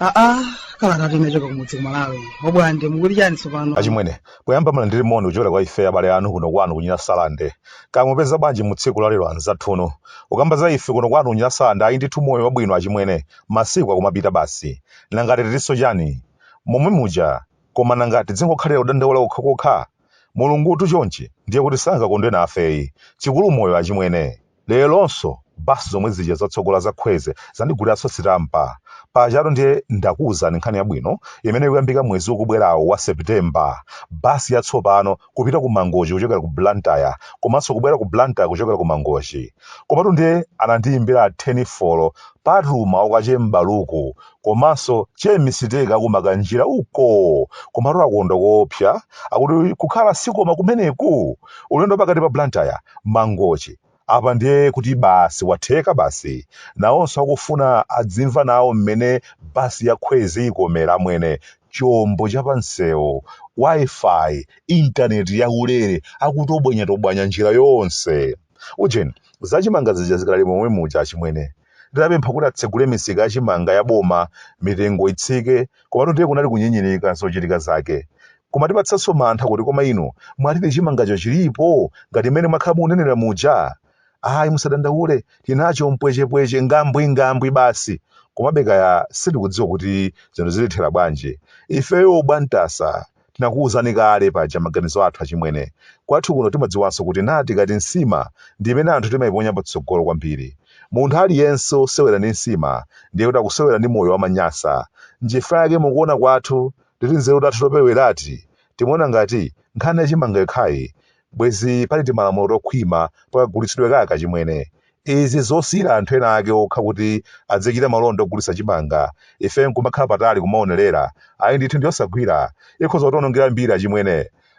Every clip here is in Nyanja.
aa kalata tinachoka kumudzi kumalawi obwande mukuti chani tsopano achimwene poyamba mulandire moni kuchokera kwa ife abale anu kuno kwanu ku nyasalande kaya mupeza bwanji mu tsiku la lero anzathuno ukamba za ife kuno kwanu ku nyasalande ayi ndithu moyo wabwino achimwene masiku akumapita basi Nanga titaninso chani? Momwe muja koma nanga tidzingokhalira kudandaula kokhakokha? Mulungutu chonchi ndiye kuti sangakondwe nafeyi. Chikulu moyo achimwene. Leronso bus zomwe zija zatsogola za khweze zandiguliranso sitampa. Pajatu ndiye ndakuuzani nkhani yabwino imene ikuyambika mwezi ukubwerawu wa September. Bus yatsopano. kupita ku mangochi kuchokera ku blantyre komanso kubwera ku blantyre kuchokera ku mangochi komatu ndiye anandiyimbira telefoni patuma uko che m'baluku komanso che misiteka kumakanjira uko komatu akondwa koopsa akuti kukhala sikoma kumeneku ulendo wa pakati pa blantyre mangochi Apa ndiye kuti basi watheka basi. Nawonso akufuna adzimva nawo mmene bus ya khwezi ikomera amwene, chombo cha pansewu, Wi-Fi, intaneti yaulere, akutobwanyatobwanya njira yonse. Ujeni, za chimanga zija zikadali momwe muja achimwene. Tidapempha kuti atsegule misika ya chimanga ya boma mitengo itsike, komatu ndiye kunali kunyinyirika zochitika zake. Kumatipatsanso mantha kuti koma inu mwatidi chimangacho chilipo ngati mmene mwakhala mukunenera muja? Ayi musadandaule, tinacho mpwechepweche, ngambwingambwi basi. Komabe kaya sitikudziwa kuti zinthu zitithera bwanji. Ifeyo obwatasa tinakuuzani kale paja maganizo athu achimwene. Kwathu kuno timadziwanso kuti ndatindikati nsima ndi imene anthu timaiponya patsogolo kwambiri. Munthu aliyense wosewera ndi nsima ndiye kuti akusewera ndi moyo wa manyasa. Nchifukwa chake mukuona kwathu Titi nzeru tathu topereweratu timaona ngati nkhani ya chimanga yokhayi bwezi pali timalamulo tokhwima pakagulitsidwe kake achimwene. Izi zosiyira anthu ena ake okha kuti adzichita malonda ogulitsa chimanga ife nkumakhala patali kumaonerera ayi ndithu ndiyosagwira ikhoza kutionongera mbiri achimwene.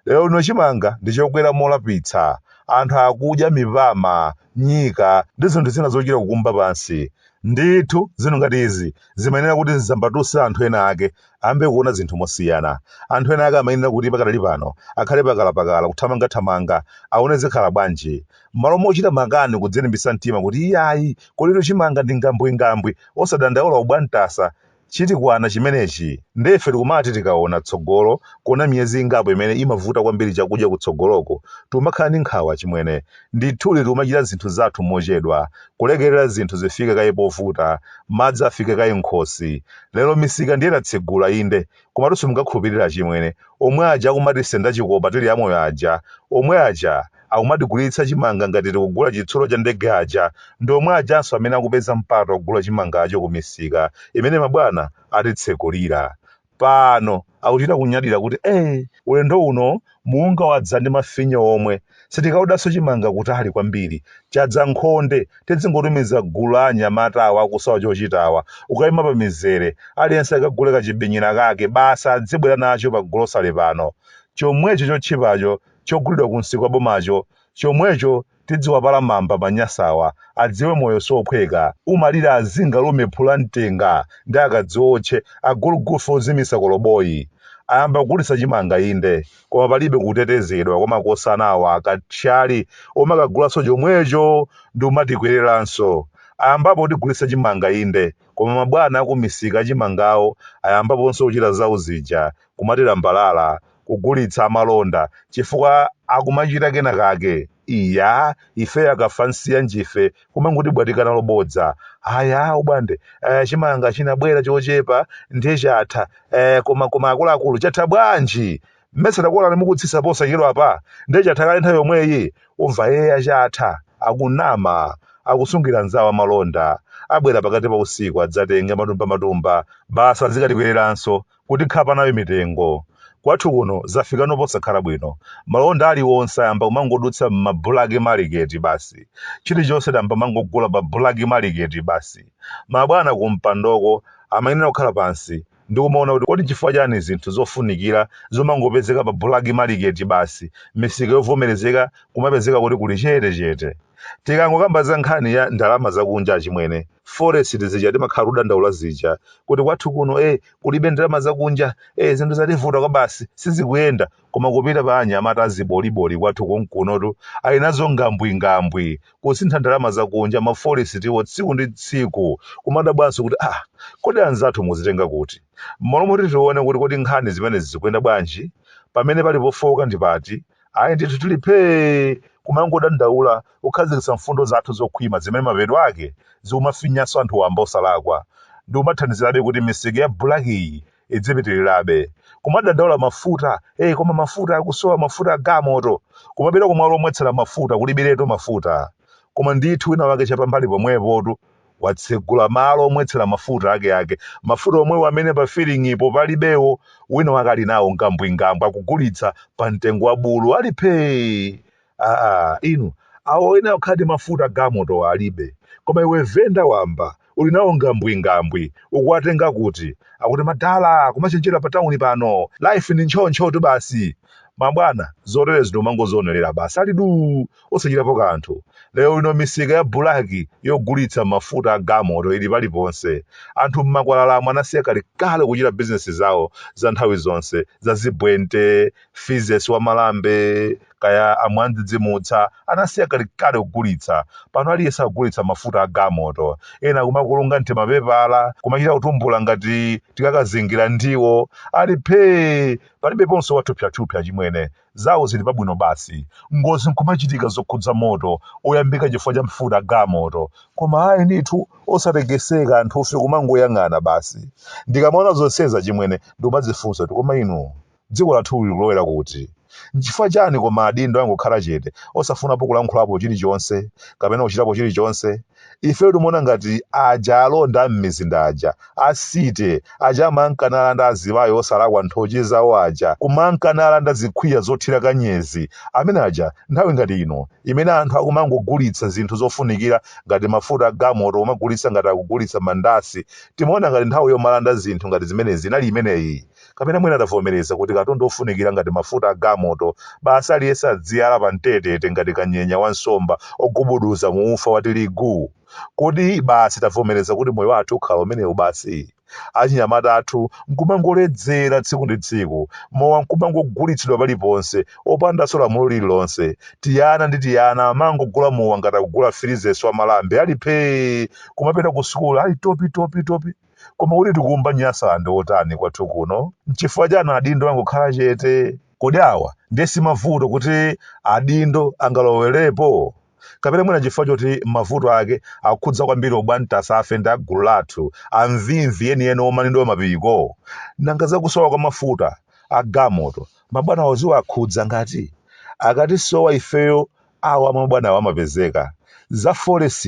Lero lino chimanga ndi chokwera molapitsa. Anthu akudya mipama, nyika ndi zinthu zina zochita kukumba pansi. Ndithu, zinthu ngati izi zimayenera kuti zidzambatutse anthu ena ake ayambe kuona zinthu mosiyana. Anthu ena ake amayenera kuti pakadali pano akhale pakalapakala, kuthamangathamanga, aone zikhala bwanji. M'malo mochita makani kudzilimbitsa mtima kuti iyayi, kuno chimanga ndi ngambwingambwi, osadandaula obwantasa, Chitikwana chimenechi nde ife tikumati tikaona tsogolo kuona miyezi ingapo imene imavuta kwambiri chakudya kutsogoloko tikumakhala ndi nkhawa achimwene. Ndithudi tikumachita zinthu zathu mochedwa, kulekerera zinthu zifike kaye povuta, madzi afike kaye m'khosi. Lero misika ndiye tatsegula inde, komatu simungakhulupirire achimwene, omwe aja akumatisenda chikopa tili amoyo aja, omwe aja! akumatigulitsa chimanga ngati tikugula chitsulo cha ndege aja ndi omwe ajanso amene akupeza mpata ogula chimangacho ku misika imene mabwana atitsekulira. Pano akuchita kunyadira kuti ee ulendo uno munga wadza ndi mafinya omwe, sitikaodanso chimanga kutali kwambiri, chadza m'khonde, tidzingotumiza gulu la anyamata awa akusowa chochita awa kukaima pa mizere, aliyense akagule kachibinyira kake basi adzibwera nacho pa gulosale pano. Chomwecho chotchipacho chogulidwa kumsika wa bomacho chomwecho tidziwapala mamba manyasawa adziwe moyo siophweka umalira azinga lume phula mtenga ndi akadziotche agulugufe ozimisa koloboyi ayamba kugulitsa chimanga inde koma palibe kutetezedwa kwa makosana awa akathyali omakagulanso chomwecho ndikumatikwereranso ayambapo kutigulitsa chimanga inde koma mabwana akumisika achimangawo ayambaponso kuchita zawo zija kumatilambalala, kugulitsa amalonda chifukwa akumachita kena kake, iya ife akafansiyanjife kumangotibwatika nalo bodza ayi abwande eh, chimanga chinabwera chochepa ndiye chatha eh, koma koma akuluakulu chatha bwanji mmesa takuonani mukutsisa posachedwapa ndiye chatha kale nthawi yomweyi umva eya chatha akunama akusungira nzawo amalonda abwera pakati pa usiku adzatenge matumba matumba basi azikatikwereranso kuti khapa nayo mitengo. Kwathu kuno zafikano posakhala bwino. Malonda aliwonse ayamba kumangodutsa m'ma bulaki maliketi basi. Chilichonse tayamba kumangogula pa bulaki maliketi basi. Mabwana kumpandoko amayenera kukhala pansi ndi kumaona kuti kodi n'chifukwa chani zinthu zofunikira zomangopezeka pa bulaki maliketi basi, misika yovomerezeka kumapezeka kuti kuli chete chete? Tikangokamba za nkhani ya ndalama zakunja achimwene, forest zija timakhala kudandaula zija kuti kwathu kuno eh, kulibe ndalama zakunja eh, zinthu zativuta kwabasi sizikuyenda koma kupita pa anyamata aziboliboli kwathu konkunotu ali nazo ngambwingambwi kusintha ndalama zakunja ma forestiwo tsiku ndi tsiku kumadabwanso kuti ah kodi anzathu muzitenga kuti mmalo moti tione kuti kodi nkhani zimene zikuyenda bwanji pamene pali pofowoka ndi pati ayi ndithu tili phee kumangodandaula kukhazikitsa mfundo zathu zokhwima zimene mapeto ake zikumafinyanso anthu wamba osalakwa ndi kumathandizirabe kuti misika ya bulakiyi idzipitirirabe kumadandaula mafuta eh koma mafuta akusowa mafuta a galimoto kumapita kumalo omwetsera mafuta kulibiretu mafuta koma ndithu wina wake chapambali pomwepotu watsegula malo omwetsera mafuta akeake, mafuta omwewo amene pa filing'ipo palibewo, wina wake ali nawo ngambwingambwi akugulitsa pa mtengo wa bulu, ali phee! Aaa, inu, awo oyenera kukhala ndi mafuta a gamotowo alibe, koma iwe venda wamba uli nawo ngambwingambwi, ukuwatenga kuti? Akuti, madala, kumachenjera pa tauni pano, life ndi ntchoo-ntchootu basi. Mabwana, zoterezi ndi kumangozionerera basi, ali duu! osachitapo kanthu. Lero lino misika ya bulaki yogulitsa mafuta a gamoto ili paliponse. Anthu m'makwalalamu anasiya kalekale kuchita bizinesi zawo za nthawi zonse za zibwente, fizesi wa malambe, kaya a mwandzidzimutsa, anasiya kalekale kugulitsa. Pano aliyense akugulitsa mafuta a gamoto. Ena akumakulunga m'timapepala, kumachita kutumbula ngati tikakazingira ndiwo. Ali phee! Palibeponso wathupsyathupsya, achimwene. Zawo zili pabwino basi. Ngozi nkumachitika zokhudza moto oyambika chifukwa cha mafuta a gamoto. Koma ayi ndithu osatekeseka anthufe kumangoyang'ana basi. Ndikamaona zonsezi achimwene ndimadzifunsa kuti koma inu dziko lathuli likulowera kuti? Nchifukwa chani koma adindo angokhala chete osafunapo kulankhulapo chilichonse kapena kuchitapo chilichonse? Ifeyo timaona ngati aja alonda am'mizinda aja, a City, aja amanka nalanda azimayi osalakwa nthochi zawo aja, kumanka nalanda zikhwiya zothira kanyezi, amene aja nthawi ngati ino imene anthu akumangogulitsa zinthu zofunikira ngati mafuta a gamoto kumagulitsa ngati akugulitsa mandasi, timaona ngati nthawi yomalanda zinthu ngati zimenezi inali imeneyi? Kapena mwina tavomereza kuti katundu ofunikira ngati mafuta a gamoto, basi aliyense adziyala pamtetete ngati kanyenya wa nsomba ogubuduza mu ufa wa tirigu? Kodi basi tavomereza kuti moyo wathu ukhala umenewu basi? Achinyamata athu nkumangoledzera tsiku ndi tsiku, mowa nkumangogulitsidwa paliponse, opandanso lamulo lililonse. Tiana ndi tiana amangogula mowa ngati akugula firizesi wa malambe, ali phee! Kumapita kusukulu ali topitopitopi. Koma kuti tikuumba Nyasaland otani kwathu kuno? Nchifukwa chani adindo angokhala chete? Kodi awa ndiye simavuto kuti adindo angalowelepo? Kapena mwina nchifukwa choti mavuto ake akukhudza kwambiri obwantasafe ndi agulu lathu, amvimvi enieni omanidwa mapiko? Nanga za kusowa kwa mafuta a gamoto mabwanawo ziwakhudza ngati? Akatisowa ifeyo awa mabwanawo amapezeka, za forex,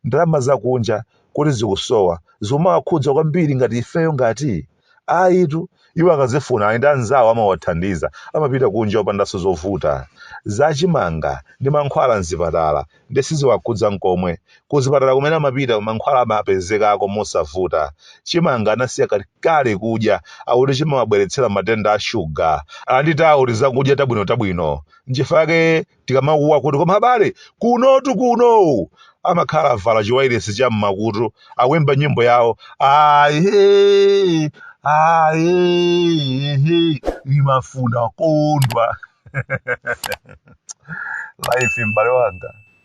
ndalama zakunja kuti zikusowa zikumawakhudza kwambiri ngati ifeyo ngati? Ayitu, iwo akazifuna ali ndi anzawo amawathandiza, amapita kunja opandanso zovuta. Za chimanga ndi mankhwala m'zipatala ndiye siziwakhudza n'komwe. Kuzipatala kumene amapita mankhwala amapezekako mosavuta. Chimanga anasiya kalekale kudya, akuti chimawabweretsera matenda a shuga. Ali ndi tawo tizakudya tabwinotabwino. nchifukwa yake tikamakuwa kuti koma abale kunotu kuno amakhala avala chiwairesi cha mmakutu akuyimba nyimbo yawo aye aye imafuna kondwa life m'bale wanga